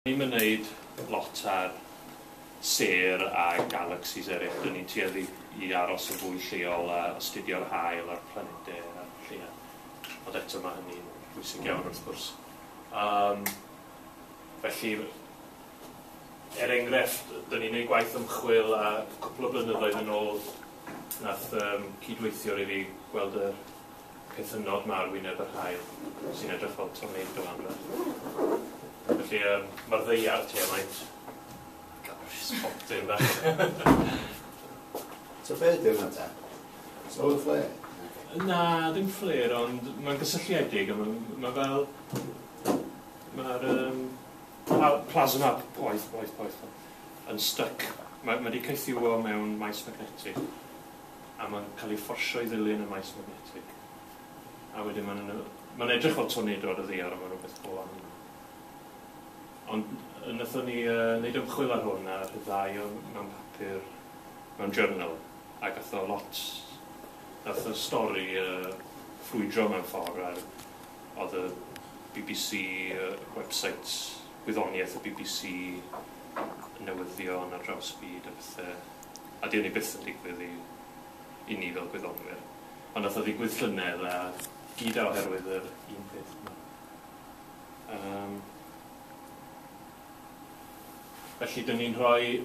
Ni'm yn neud lot ar sêr a galaxies eryll, dyn ni'n tueddu i i aros yn fwy lleol a astudio'r haul a'r planede a'r lleuad. Ond eto ma' hynny'n bwysig iawn wrth gwrs. Yym felly er enghraifft dyn ni'n neud gwaith ymchwil a cwpwl o blynyddoedd yn ôl nath yym cydweithiwr i fi gweld yr Cytunodd mâr wyneb yr haul sy'n edrych fel tornado arfer. Felly yym ma'r ddaear tua faint? Gosh, potyn bach. So be' ydi hwnna ta? Solar flare? Na, dim fflêr ond ma'n gysylltiedig a ma' ma' fel ma'r yym pla- plasma p- poeth poeth poeth yn styc. Ma' ma' 'di cythiwio mewn maes magnetig. a mae'n cael ei fforsio i ddilyn y maes magnetig. A wedyn mae'n yn, mae'n edrych fel tornado ar y ddiar, ond mae'n rhywbeth go wahanol. Ond wnaethon ni uh, wneud ymchwil ar hwn a rhyddhau o mewn papur, mewn journal, a gath o lot, gath y stori uh, ffrwydro mewn ffordd ar oedd y BBC uh, website, gwyddoniaeth y BBC, newyddion ar draws y byd a pethau. a dyw hynny byth yn digwydd i i ni fel gwyddonwyr. Ond nath o ddigwydd llynedd a gyd a oherwydd yr un peth 'ma. Yym. Felly dyn ni'n rhoi...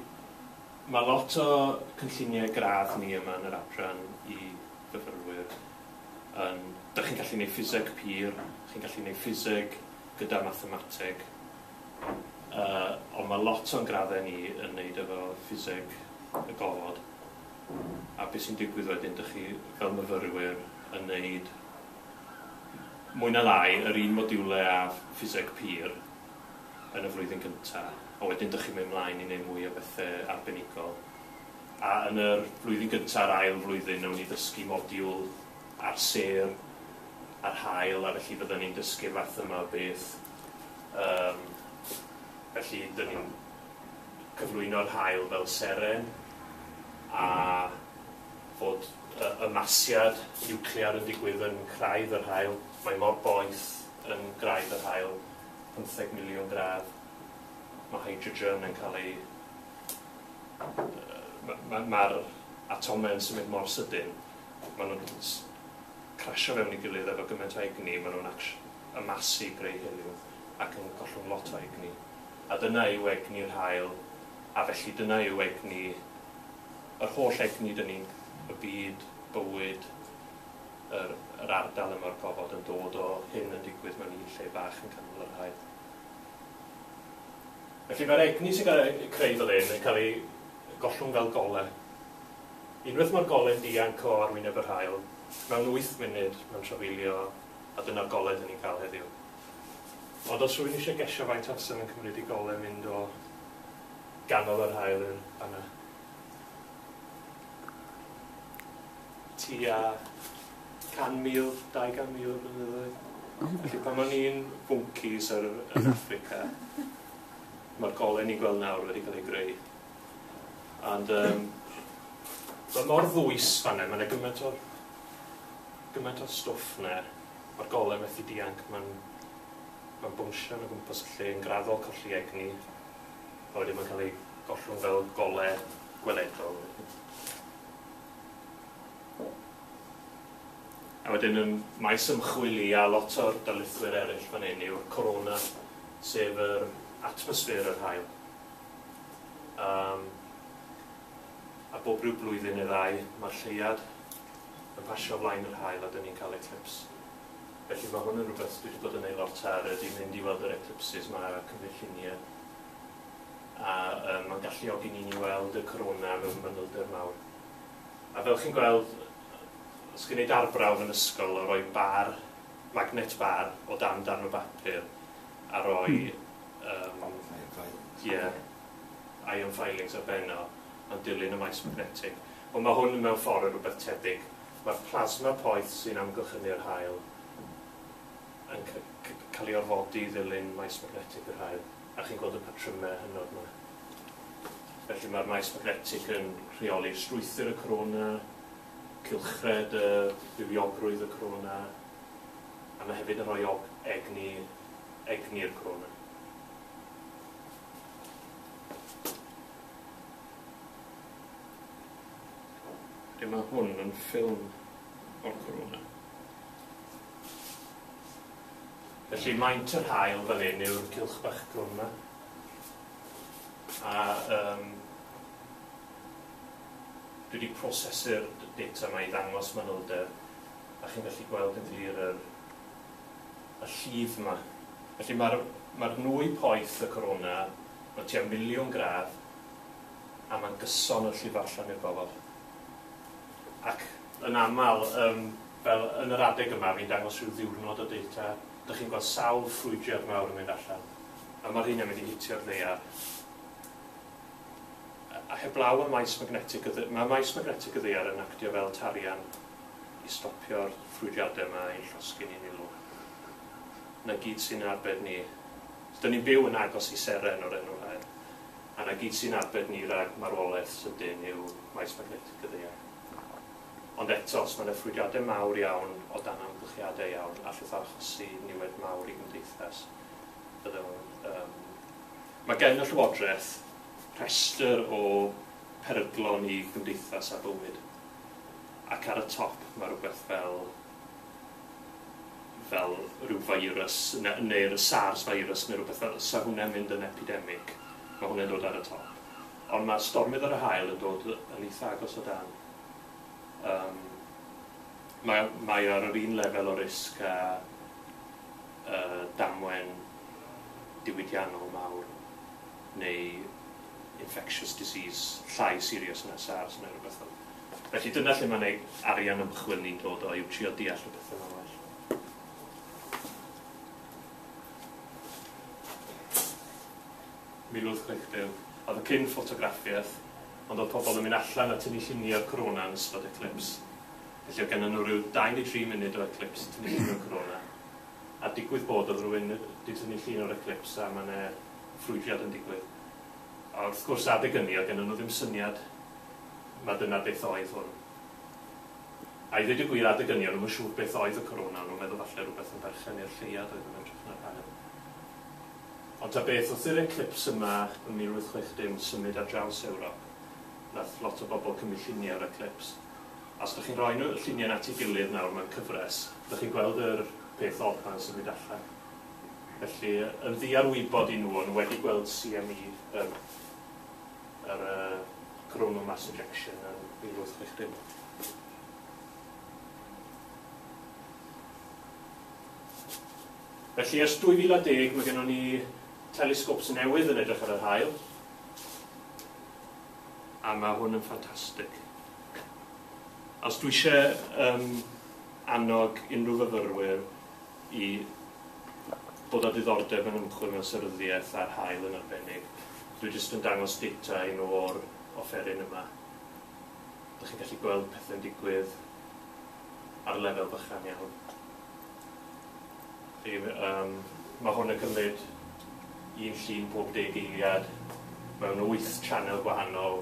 Ma' lot o cynlluniau gradd ni yma yn yr adran i fyfyrwyr yn... Dach chi'n gallu neud ffiseg pur, chi'n gallu neud ffiseg gyda mathemateg, Yy, ond ma' lot o'n graddau ni yn neud efo ffiseg y gofod, a be' sy'n digwydd wedyn, dych chi, fel myfyrwyr, yn neud, mwy na lai, yr un modiwle â ffiseg pur yn y flwyddyn gynta, a wedyn dych chi'n mynd mlaen i neud mwy o bethe arbenigol. A yn yr flwyddyn gynta a'r ail flwyddyn newn ni ddysgu modiwl ar sêr, ar haul, a felly fydden ni'n dysgu'r fath yma o beth. Yym, felly 'dyn ni'n cyflwyno'r haul fel seren, a fod y y masiad niwclear yn digwydd yn Craidd yr Haul, mae mor boeth yn Graidd yr Haul, pymtheg miliwn gradd, ma' hydrogen yn cael ei... yy ma' ma'r atomau yn symud mor sydyn, ma' nhw'n s- crasio fewn ei gilydd efo gymaint o egni, ma' nhw'n acsh-. y masi greu hiliw ac yn gollwng lot o egni. A dyna yw egni'r haul, a felly dyna yw egni, yr holl egni dyn ni, y byd, bywyd, yr, yr ardal yma o'r gofod yn dod o hyn yn digwydd mewn un lle bach yn canol yr haul. Felly mae'r egni sy'n cael ei creu fel hyn yn cael ei gollwng fel gole. Unwaith mae'r gole'n dianc o arwyneb yr haul, mewn wyth munud mae'n trafeilio A dyna'r gole dyn ni'n cael heddiw. Ond os rwy'n eisiau gesio faint o amser mae'n cymryd i gole mynd o ganol yr haul yn fan yna, tua 100,000, 200,000 o flynyddoedd, felly pan o'n i'n fwncis yn Affrica, mae'r gole ni'n gweld nawr wedi cael ei greu. Ond um, mae mor ddwys fan hyn, mae yna gymaint o, gymaint o stwff yna. Mae'r golau methu dianc, mae'n ma bwnsio yn y gwmpas y lle yn graddol colli egni. A wedyn mae'n cael ei gollwng fel golau gweledol. A wedyn ym maes ymchwil i a lot o'r darlithwyr eraill fan hyn yw'r corona, sef yr atmosffer yr hael. Yym, a bob rhyw blwyddyn neu ddau, mae'r lleuad yn pasio o flaen yr haul a dyn ni'n cael eclips. Felly mae hwn yn rhywbeth dwi wedi bod yn ei lot ar ydy mynd i weld yr eclipses, mae cymryd lluniau a um, mae'n galluogi ni i weld y corona mewn manylder mawr. A fel chi'n gweld, os chi'n gwneud arbrawf yn ysgol o roi bar, magnet bar, o dan darn o bapur a roi hmm. Yym, ie, ion filings ar ben o, yn dilyn y maes magnetig. Wel, mae hwn mewn ffordd yn rhywbeth tebyg. Mae'r plasma poeth sy'n amgylchynu yr haul yn cael ei orfodi i ddilyn maes magnetig yr haul, a chi'n gweld y patrymau hynod yma. Felly mae'r maes magnetig yn rheoli'r strwythur y corona, cylchred y bywiogrwydd y corona, a mae hefyd yn rhoi egni egni'r Corona. Lle mae hwn yn ffilm o'r Corona. Felly maint yr hael fan hyn yw'r cylch bach crwn yma. A um, dwi wedi prosesu'r data yma i ddangos manylder a chi'n gallu gweld yn glir yr y llif 'ma. Felly mae'r mae'r nwy poeth y Corona o tua miliwn gradd a mae'n gyson y llif allan i'r gofod. Ac yn aml yym fel yn yr adeg yma fi'n dangos rhyw ddiwrnod o data, dych chi'n gweld sawl ffrwydrad mawr yn mynd allan a mae'r rheina'n mynd i hitio'r ddaear. A heblaw am maes magnetig y ddy- mae maes magnetig y ddaear yn actio fel tarian i stopio'r ffrwydiade 'ma i'n llosgi ni'n ilw. 'Na gyd sy'n arbed ni. 'Dyn ni'n byw yn agos i seren o'r enw Haearn, a 'na gyd sy'n arbed ni rag marwolaeth sydyn yw maes magnetig y ddaear. Ond eto, os mae 'na ffrwydiade mawr iawn o dan amgylchiade iawn, allwch achosi niwed mawr i gymdeithas. Fydde fo'n yym. Mae gen y Llywodraeth rhestr o peryglon i gymdeithas a bywyd. ac ar y top ma' rwbeth fel fel ryw feirws ne- neu'r sars feirws ne' rwbeth fel 'sa hwnne'n mynd yn epidemic, ma' hwnne'n dod ar y top. Ond ma' stormydd ar y haul yn dod yn eitha agos o dan. Yym ma' mae o ar yr un lefel o risg â yy damwen diwydiannol mawr neu infectious disease llai serious na SARS neu rywbeth fel 'ny. Felly dyna lle mae'n ei arian ymchwil ni'n dod o, yw trio deall y pethe 'ma'n well. Mil wyth chwech deg. Oedd y cyn ffotograffiaeth, ond oedd pobl yn mynd allan a tynnu llunie o'r corona yn ystod eclips. Felly oedd gennon nhw ryw dau neu dri munud o eclips i tynnu llun o'r corona. A digwydd bod oedd rywun 'di tynnu llun o'r eclips a ma' 'ne ffrwydriad yn digwydd. A wrth gwrs adeg ynny oedd gennyn nhw ddim syniad ma dyna beth oedd hwn. A i ddweud y gwir adeg ynny o'n nhw'm yn siŵr beth oedd y Corona, o'n nhw'n meddwl falle rhywbeth yn berchen i'r lleuad oedd yn edrych yn yr haul. Ond ta beth, wrth i'r eclips yma ym 1860 symud ar draws Ewrop, nath lot o bobl cymryd lluniau o'r eclips. A os dych chi'n rhoi nhw, y lluniau'n at ei gilydd nawr mewn cyfres, dych chi'n gweld yr peth od 'ma'n symud allan. Felly, yn ddiarwybod i nhw, o'n nhw wedi gweld CME, yr yr yy coronal mass ejection yn 1860. Felly, ers 2010, mae gennym ni telescopes newydd yn edrych ar yr haul, a mae hwn yn ffantastig. Os dwi eisiau um, annog unrhyw fyfyrwyr i bod â diddordeb mewn ymchwil mewn seryddiaeth a'r haul yn arbennig. Dwi jyst yn dangos data i nhw o'r offeryn yma. Dych chi'n gallu gweld pethe'n digwydd ar lefel bychan iawn. Chi, um, mae hwn yn cymryd un llun pob deg eiliad mewn wyth channel gwahanol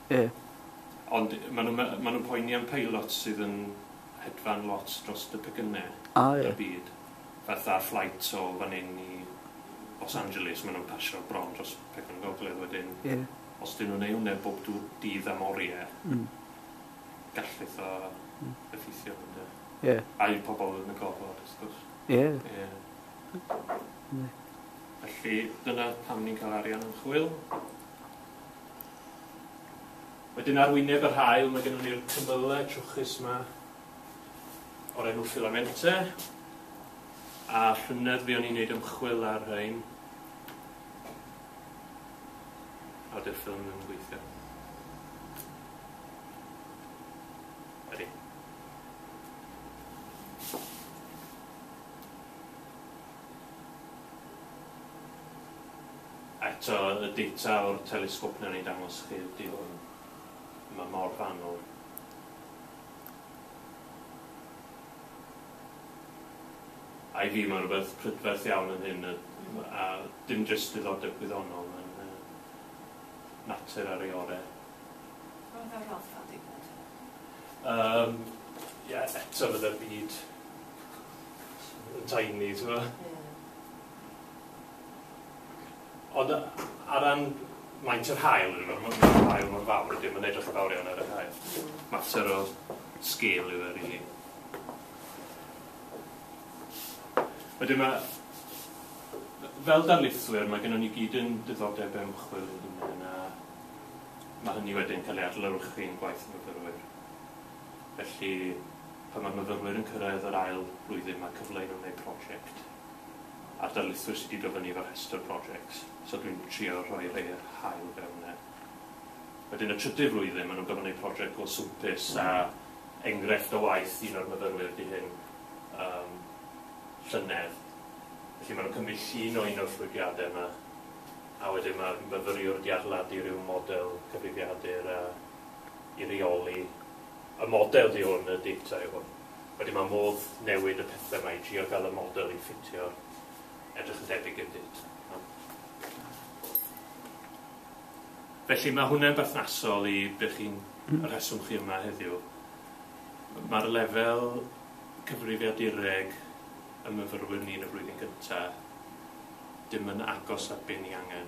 Y. Ond maen nhw, maen nhw'n poeni am peilots sydd yn hedfan lot drost y pecynnau. A, ie. Y byd. Fatha flight o fan hyn i Los Angeles, maen nhw'n pasio bron dros pecynnau gogledd wedyn. Ie. Os dyn nhw'n ei wneud bob dw- dydd am oriau, Mm. gallith o Mm. effeithio arno de. Ie. Ai pobl yn y gofod, wrth gwrs. Ie. Ie. Ie. Felly, dyna pam ni'n cael arian am chwyl. Wedyn ar wyneb yr haul mae gennon ni'r cymylau trwchus yma o'r enw filamente a llynedd fuon ni'n neud ymchwil ar rhain a dy'r ffilm ddim yn gweithio. Ydy. Eto, y data o'r telesgop wnawn ni ddangos chi ydy hwn. Mae mor fanwl. I fi mae rhywbeth prydferth iawn yn hyn a dim jyst diddordeb gwyddonol yn natur ar ei ore. Roedd e'n rhatha digwydd. Yym, ie, eto fydde'r byd yn tiny, t'mo'? Ie. Ond ar ran maint yr haul yndyfe ma' ma' ma'r haul mor fawr ydi o ma'n edrych yn fawr iawn ar yr haul. Mater o sgêl yw e rili. Wedyn ma' fel darlithwyr ma' gynnon ni gyd yn diddordeb ymchwil ein hunen a ma' hynny wedyn ca'l ei adlewyrchu yn gwaith y myfyrwyr. Felly pan ma'r myfyrwyr yn cyrraedd yr ail flwyddyn ma' cyfle i nw neud project. a'r darlithwyr sydd wedi dod fyny efo rhestr projects, so dwi'n trio rhoi rhei o'r haul fewn 'na. Wedyn y trydydd flwyddyn ma' nhw'n gorfod neud project go swmpus a engrefft o waith un o'r myfyrwyr ydi hyn yym llynedd felly ma' nhw'n cymryd llun o un o'r llwydiade 'ma a wedyn ma'r myfyriwr 'di adeiladu ryw model cyfrifiadur a i reoli Y model di hwn, y data yw hwn. Wedyn mae modd newid y pethau mae i drio gael y model i ffitio edrych yn debyg i'r data. Felly mae hwnna'n berthnasol i be chi'n hmm. y rheswm chi yma heddiw. Mae'r lefel cyfrifiadureg y myfyrwyr ni yn y flwyddyn gyntaf dim yn agos at be ni angen.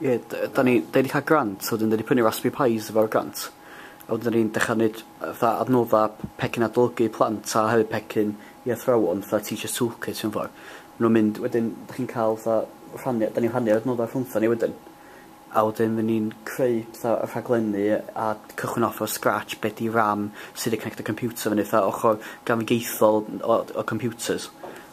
Ie d- yy 'dan ni 'dan ni 'di ca'l grant a wedyn 'dan ni prynu raspberry pis efo'r grant a wedyn 'dan ni'n dechra neud yy fatha adnodda p- pecyn adolygu plant a hefyd pecyn i athrawon fatha teacher's toolkit mewn ffor. Ma' nw'n mynd wedyn dych chi'n ca'l fatha rhannu 'dan ni'n rhannu'r adnodda rhwngthon ni wedyn a wedyn by' ni'n creu petha yy rhaglenni yy a cychwyn off o scratch be' 'di ram sud i connectio computer fyny fatha ochor gamgeithiol n- o d- o computers.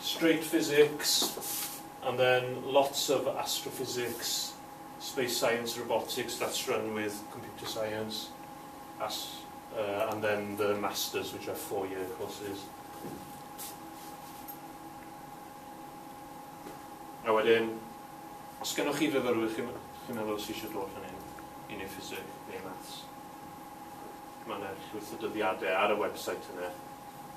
straight physics, and then lots of astrophysics, space science, robotics, that's run with computer science, as, uh, and then the masters, which are four-year courses. A wedyn, os gennych chi fyfyrwyr chi'n chi meddwl sy'n eisiau dod fan hyn i wneud ffisig neu maths, mae yna llwyth o dyddiadau ar y website yna.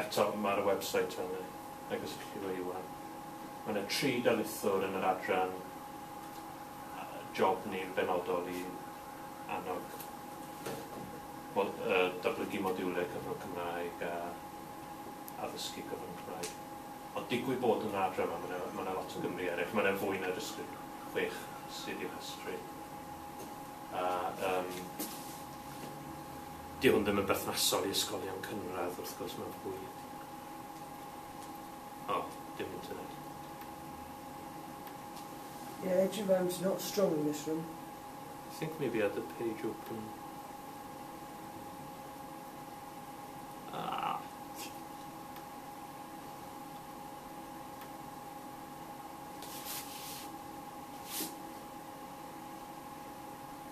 Eto, mae'r website yn agos i chi leiwan. Mae yna tri darlithwr yn yr adran job ni'n benodol i annog datblygu modiwlau cyfrwng Cymraeg a addysgu cyfrwng Cymraeg. Ond digwydd bod yn yr adran yma, mae yna, mae yna lot o Gymry eraill. Mae yna fwy na jyst chwech sydd i'w rhestru. A, um, Dyw hwn ddim yn berthnasol i ysgolion cynradd wrth gwrs mae'n fwy... O, dim internet. Yeah, edge of hand's not strong in this room. I think maybe I had the page open. Ah.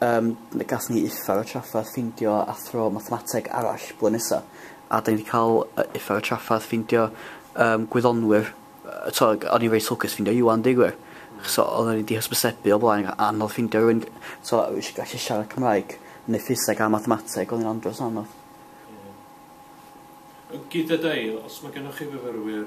Yym le gallwn ni uffar a traffarth ffeindio athro mathemateg arall blwyddyn nesa? A da ni wedi cael yy uffar a traffarth ffeindio yym gwyddonwyr yy t'o' g- o'n i'n reit lwcus ffeindio Iwan deu gwir. Achos o- oedden ni 'di hysbysebu o blaen a- anodd ffeindio rywun g- t'o' yy sh- gallu siarad Cymraeg neu ffiseg a mathemateg o'n i'n andros o anodd. Ie. Yy gyda Dale os ma' gennoch chi fyfyrwyr